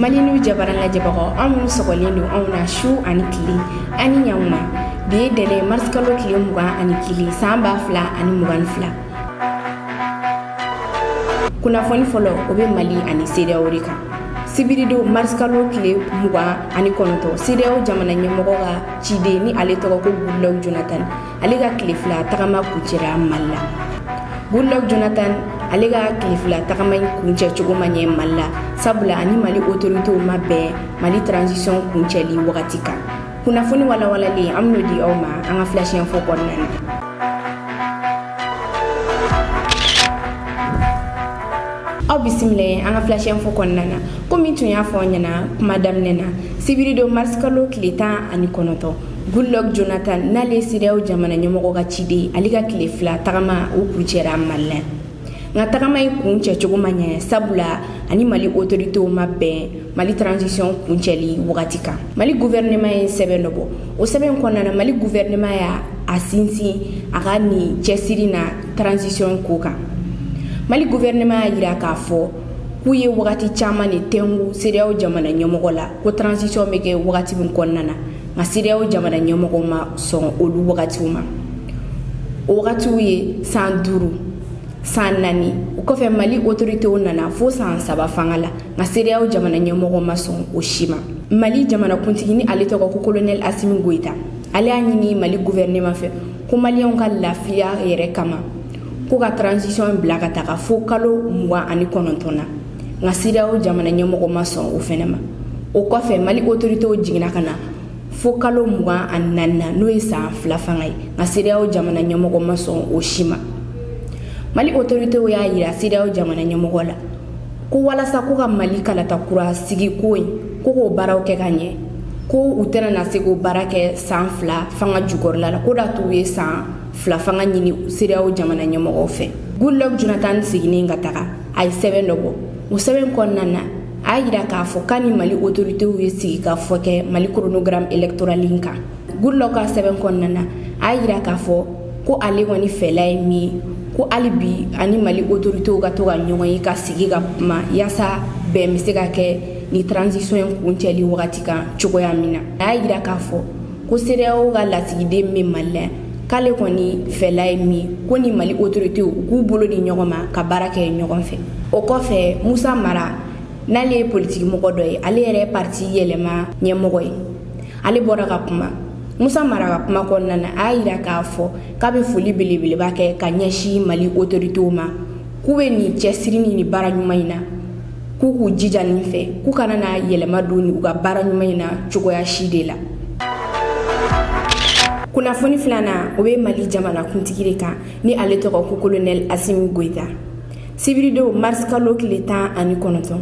mali n'u jabaran lajɛbagaw aw minnu sɔgɔlen don anw na su ani tile an ni ɲankuma bi ye tɛnɛn marisikalo tile mugan ani kelen san ba fila ani mugan ni fila kunnafoni fɔlɔ o bɛ mali ani sedeyaw de kan sibiridon marisikalo tile mugan ani kɔnɔntɔn sedeyaw jamana ɲɛmɔgɔ ka ciden ni ale tɔgɔ ko goodluck jonathan ale ka tile fila tagama kuncɛra mali la goodluck jonathan ale ka tile fila tagama in kuncɛ cogo ma ɲɛ mali la sabula a ni mali autoritew ma bɛn mali transition kuncɛli wagati kan kunnafoni walawalalen an bɛn'o di aw ma an ka flash info kɔnɔna na aw bisimila ye an ka flash info kɔnɔna na komi n tun y'a fɔ aw ɲɛna kuma daminɛ na sibiridon marisikalo tile tan ani kɔnɔntɔn Goodluck Jonathan n'ale ye CEDEAO jamana ɲɛmɔgɔ ka ciden ye, ale ka tile fila tagama o kuncɛra Mali la. Nka tagama in kuncɛ cogo ma ɲɛ sabula a ni Mali autorités ma bɛn Mali transition kuncɛli wagati kan. Mali gouvernement ye sɛbɛn dɔ bɔ. O sɛbɛn kɔnɔna na, Mali gouvernement y'a a sinsin a ka nin cɛsiri na transition ko kan. Mali gouvernement y'a jira k'a fɔ k'u ye wagati caman de tɛngu CEDEAO jamana ɲɛmɔgɔ la ko transition bɛ kɛ wagati min kɔnɔna na. nka sedeyaw jamana ɲɛmɔgɔ ma sɔn olu wagatiw ma o wagatiw ye san duuru san naani o kɔfɛ mali otoritew nana fo san saba fanga la nka sedeyaw jamana ɲɛmɔgɔ ma sɔn o si ma mali jamanakuntigi ni ale tɔgɔ ko kolonɛli asimi goyita ale y'a ɲini mali guvɛrɛnɛma fɛ ko maliyɛnw ka lafiya yɛrɛ kama ko ka tranzisiyɔn bila ka taga fo kalo mugan ani kɔnɔntɔn na nka sedeyaw jamana ɲɛmɔgɔ ma sɔn o fɛnɛ ma o kɔfɛ mali otoritew jiginna ka na fo kalo mugan ani naani na n'o ye san fila fanga ye nka sedeyaw jamana ɲɛmɔgɔ ma sɔn o si ma mali otoritew y'a yira sedeyaw jamana ɲɛmɔgɔ la ko walasa ko ka mali kalata kura sigi ko ye ko k'o baaraw kɛ ka ɲɛ ko u tɛna na se k'o baara kɛ san fila fanga jukɔrɔla la k'o d'a to u ye san fila fanga ɲini sedeyaw jamana ɲɛmɔgɔw fɛ goodluck jonathan seginnen ka taga a ye sɛbɛn dɔ bɔ o sɛbɛn kɔnɔna na a y'a jira k'a fɔ k'a ni mali otoritew ye sigikafɔ kɛ mali koronogramu elektorali kan goodluck ka sɛbɛn kɔnɔna na a y'a jira k'a fɔ ko ale kɔni fɛla ye min ye ko hali bi a ni mali otoritew ka to ka ɲɔgɔn ye ka sigi ka kuma yaasa bɛn bɛ se ka kɛ ni transisɔn in kuncɛli wagati kan cogoya min na a y'a jira k'a fɔ ko sedeyawo ka lasigiden bɛ mali la k'ale kɔni fɛla ye min ko ni mali otoritew k'u bolo di ɲɔgɔn ma ka baara kɛ ɲɔgɔn fɛ o kɔfɛ musa mara n'ale ye politigimɔgɔ dɔ ye ale yɛrɛ pati yɛlɛma ɲɛmɔgɔ ye ale bɔra ka kuma musa mara ka kuma kɔnɔna na a y'a jira k'a fɔ k'a bɛ foli belebeleba kɛ ka ɲɛsin mali otoritew ma k'u bɛ nin cɛsiri nin ni baara ɲuman in na k'u k'u jija nin fɛ k'u kana na yɛlɛma don u ka baara ɲuman in na cogoya si de la kunnafoni filanan o bɛ mali jamana kuntigi de kan ni ale tɔgɔ ko kolonɛli asimi goyita sibiridon marisikalo tile tan ani kɔnɔntɔn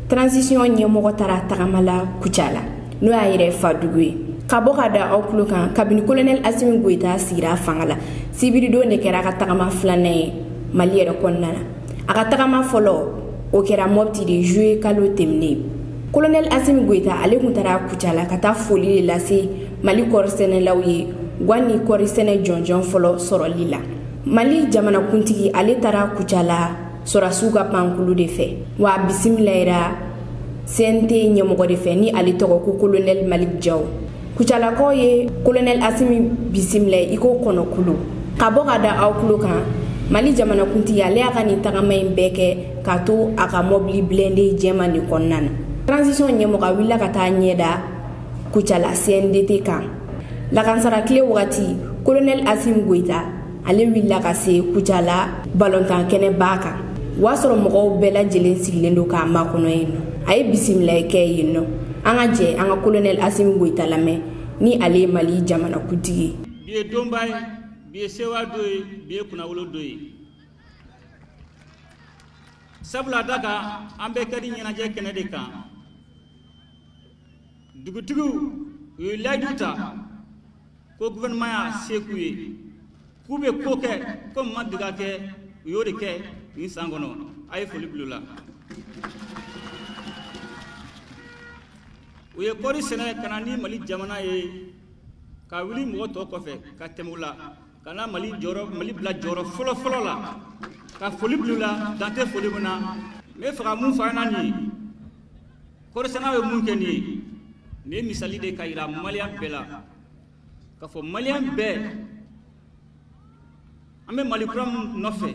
transisiyɔn ɲɛmɔgɔ taara tagama la kucala n'o y'a yɛrɛ fadugu ye ka bɔ ka da aw tulo kan kabini kolonɛli asimi goyita sigira fanga la sibiridon de kɛra a ka tagama filanan ye mali yɛrɛ kɔnɔna na a ka tagama fɔlɔ o kɛra mopti de zuye kalo tɛmɛnen kolonɛli asimi goyita ale tun taara kucala ka taa foli de lase mali kɔɔri sɛnɛlaw ye wa ni kɔɔri sɛnɛ jɔnjɔn fɔlɔ sɔrɔli la mali jamanakuntigi ale taara kucala sɔrɔdasiw ka pankulu de fɛ wa a bisimilayira cnt ɲɛmɔgɔ de fɛ ni ale tɔgɔ ko kolonɛli maliki jawu kucalakaw ye kolonɛli asimi bisimila i ko kɔnɔkulu ka bɔ ka da aw tulo kan mali jamanakuntigi ale y'a ka nin tagama in bɛɛ kɛ k'a to a ka mɔbili blende jɛman nin kɔnɔna na transition ɲɛmɔgɔ a wulila ka taa ɲɛ da kucala cmdt kan lakansara tile wagati kolonɛli asimi goyita ale wulila ka se kucala balontan kɛnɛba kan o y'a sɔrɔ mɔgɔw bɛɛ lajɛlen sigilen don k'a makɔnɔ yen nɔ a ye bisimilayi kɛ yen nɔ an ka jɛ an ka kolonɛli asimi goyita lamɛn ni ale ye mali jamanakuntigi bi ye donba ye bi ye sɛwa don ye bi ye kunnawolo don ye sabula da kan an bɛɛ kadi ɲɛnajɛ kɛnɛ de kan dugutigiw u ye layidu ta ko gouvernement y'a se k'u ye k'u bɛ ko kɛ ko min ma deli ka kɛ u y'o de kɛ nin san kɔnɔ a ye foli bila u la u ye kɔɔri sɛnɛ ka na ni mali jamana ye ka wuli mɔgɔ tɔ kɔfɛ ka tɛmɛ u la ka na mali jɔyɔrɔ mali bila jɔyɔrɔ fɔlɔ fɔlɔ la ka foli bila u la dan tɛ foli min na n b'a fɛ ka mun fɔ an na nin ye kɔɔrisɛnɛnaw ye mun kɛ nin ye nin ye misali de k'a yira maliyɛn bɛɛ la k'a fɔ maliyɛn bɛɛ an bɛ mali kura min nɔfɛ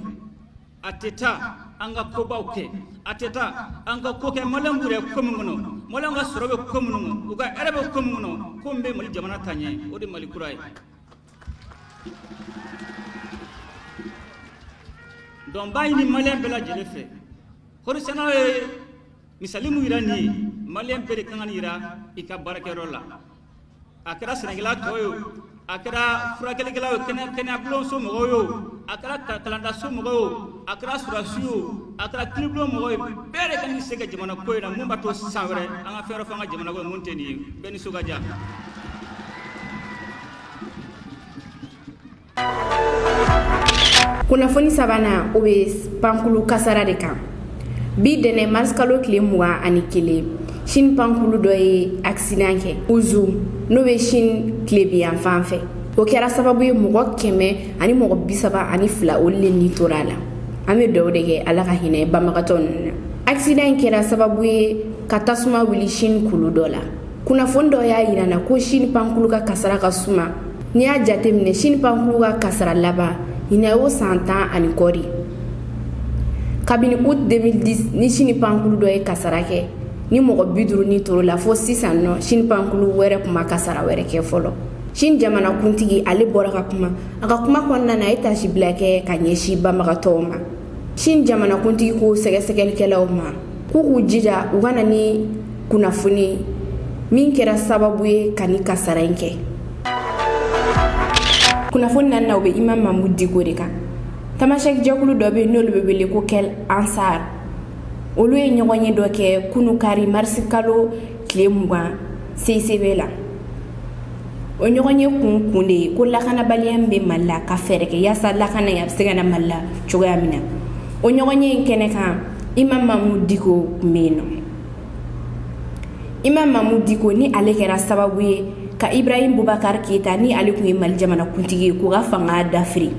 a tɛ taa an ka kobaw kɛ a tɛ taa an ka ko kɛ maliyɛn b'u yɛrɛ ko min kɔnɔ maliyɛn ka sɔrɔ bɛ ko minnu kɔnɔ u ka hɛrɛ bɛ ko min kɔnɔ ko min bɛ mali jamana taa ɲɛ o de mali kura ye donc n b'a ɲini maliyɛn bɛɛ lajɛlen fɛ kɔɔrisɛnɛnaw ye misali min jira nin ye maliyɛn bɛɛ de kan ka nin jira i ka baarakɛyɔrɔ la a kɛra sɛnɛkɛla tɔ ye o a kɛra furakɛlikɛla ye o kɛnɛ kɛnɛyabulonso mɔgɔw ye o a kɛra ka- kalandaso mɔgɔ ye o a kɛra sɔrɔdasi ye o a kɛra kiiribulon mɔgɔ ye bɛɛ de kan k'i se kɛ jamana ko in na mun b'a to san wɛrɛ an ka fɛn wɛrɛ fɔ an ka jamana ko in mun tɛ nin ye bɛɛ nisɔn ka diya kunnafoni sabanan o bɛ pankulu kasara de kan bi ntɛnɛn marisikalo tile mugan ani kelen sini pankulu dɔ ye akisidan kɛ uzu n'o bɛ sini tilebinyanfan fɛ o kɛra sababu ye mɔgɔ kɛmɛ ani mɔgɔ bisaba ani fila olu le ni tora a la an bɛ dugawu de kɛ ala ka hinɛ banbagatɔ ninnu na akisidan in kɛra sababu ye ka tasuma wuli sini kulu dɔ la kunnafoni dɔ y'a jira na ko sini pankulu ka kasara ka suma n'i y'a jateminɛ sini pankulu ka kasara laban ɲinan y'o san tan ani kɔ de kabini août 2010 ni sini pankulu dɔ ye kasara kɛ ni mɔgɔ bi duuru ni tora o la fo sisan nɔ sini pankulu wɛrɛ tun ma kasara wɛrɛ kɛ fɔlɔ sini jamanakuntigi ale bɔra ka kuma a ka kuma kɔnɔna na a ye tasibila kɛ ka ɲɛsin banbagatɔw ma sini jamanakuntigi ko sɛgɛsɛgɛlikɛlaw ma k'u k'u jija u ka na ni kunnafoni min kɛra sababu ye ka nin kasara in kɛ kunnafoni naaninan o bɛ imamu mamudu diko de kan tamasɛki jɛkulu dɔ bɛ n'olu bɛ wele ko kɛl ansar olu ye ɲɔgɔnye dɔ kɛ kunu kari marisikalo tile mugan seisebe la o ɲɔgɔnye kun kun de ye ko lakanabaliya min bɛ mali la ka fɛɛrɛ kɛ yaasa lakana a bɛ se ka na mali la cogoya min na o ɲɔgɔnye in kɛnɛ kan imamu mamudu diko kun bɛ yen na imamu mamudu diko ni ale kɛra sababu ye ka ibrahim bubakari keyita ni ale tun ye mali jamanakuntigi ye k'u ka fanga dafiri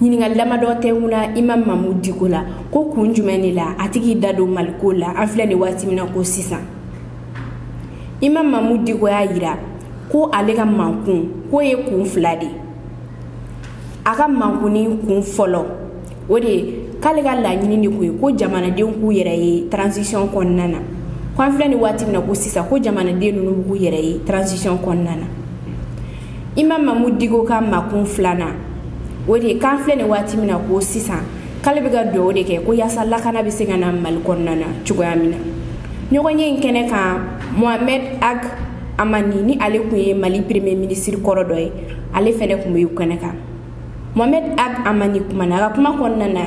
ɲininkali damadɔ tɛ wula imamu mamudu diko la ko kun jumɛn de la a tɛ k'i da don mali ko la an filɛ nin waati min na ko sisan imamu mamudu diko y'a jira ko ale ka makun k'o ye kun fila de ye a ka makunni kun fɔlɔ o de ye k'ale ka laɲini de kun ye ko jamanadenw k'u yɛrɛ ye transition kɔnɔna na ko an filɛ nin waati min na ko sisan ko jamanaden ninnu b'u yɛrɛ ye transition kɔnɔna na imamu mamudu diko ka makun filanan o de ye k'an filɛ nin waati min na ko sisan k'ale bɛ ka dugawu de kɛ ko yaasa lakana bɛ se ka na mali kɔnɔna na cogoya min na ɲɔgɔnye in kɛnɛ kan mohamɛd ag amani ni ale tun ye mali pereme minisiri kɔrɔ dɔ ye ale fana tun bɛ kɛnɛ kan mohamɛd ag amani kumana a ka kuma kɔnɔna na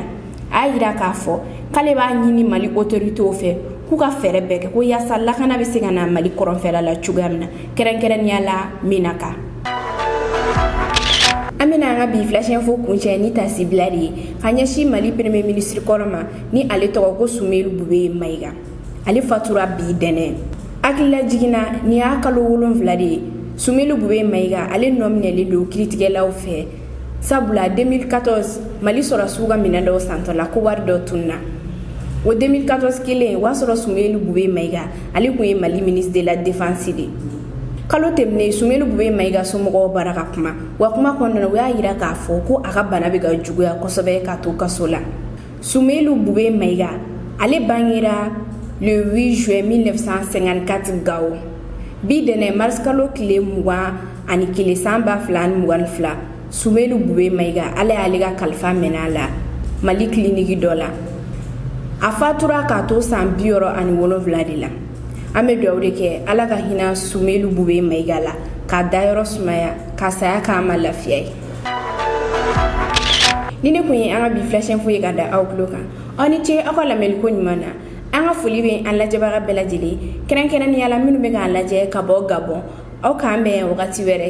a y'a jira k'a fɔ k'ale b'a ɲini mali otoritew fɛ k'u ka fɛɛrɛ bɛɛ kɛ ko yaasa lakana bɛ se ka na mali kɔrɔnfɛla la cogoya min na kɛrɛnkɛrɛnnenya la menaka an bɛna an ka bi flash info kuncɛ ni tasibila de ye ka ɲɛsin mali pereme minisiri kɔrɔ ma ni ale tɔgɔ ko sumeyilu bubɛyi mayiga ale fatura bi ntɛnɛn hakililajigin na nin y'a kalo wolonwula de ye sumeyilu bube mayiga ale nɔminɛnen don kiiritigɛlaw fɛ sabula 2014 mali sɔrɔdasiw ka minɛn dɔw santɔ la ko wari dɔ tununna o 2014 kelen o y'a sɔrɔ sumeyilu bube mayiga ale tun ye mali ministre de la défense de kalo tɛmɛnen sumeyilu bube mayiga somɔgɔw bɔra ka kuma u ka kuma kɔnɔna u y'a jira k'a fɔ ko a ka bana bɛ ka juguya kosɛbɛ ka to kaso la Sumeyilu Bube Mayiga, ale bangera le 8 juin 1954 Gao, bi ntɛnɛn mars kalo tile 21 san 2022, Sumeyilu Bube Mayiga, Ala y'ale ka kalifa minɛ a la Mali kiliniki dɔ la, a fatura k'a to san 67 de la, an bɛ dugawu de kɛ Ala ka hinɛ Sumeyilu Bube Mayiga la, k'a dayɔrɔ sumaya, ka saya kɛ an ma lafiya ye. nin de kun ye an ka bi flash info ye ka da aw tulo kan aw ni ce aw ka lamɛnliko ɲuman na an ka foli bɛ an lajɛbaga bɛɛ lajɛlen kɛrɛnkɛrɛnnenya la minnu bɛ k'an lajɛ ka bɔ gabɔn aw k'an bɛn wagati wɛrɛ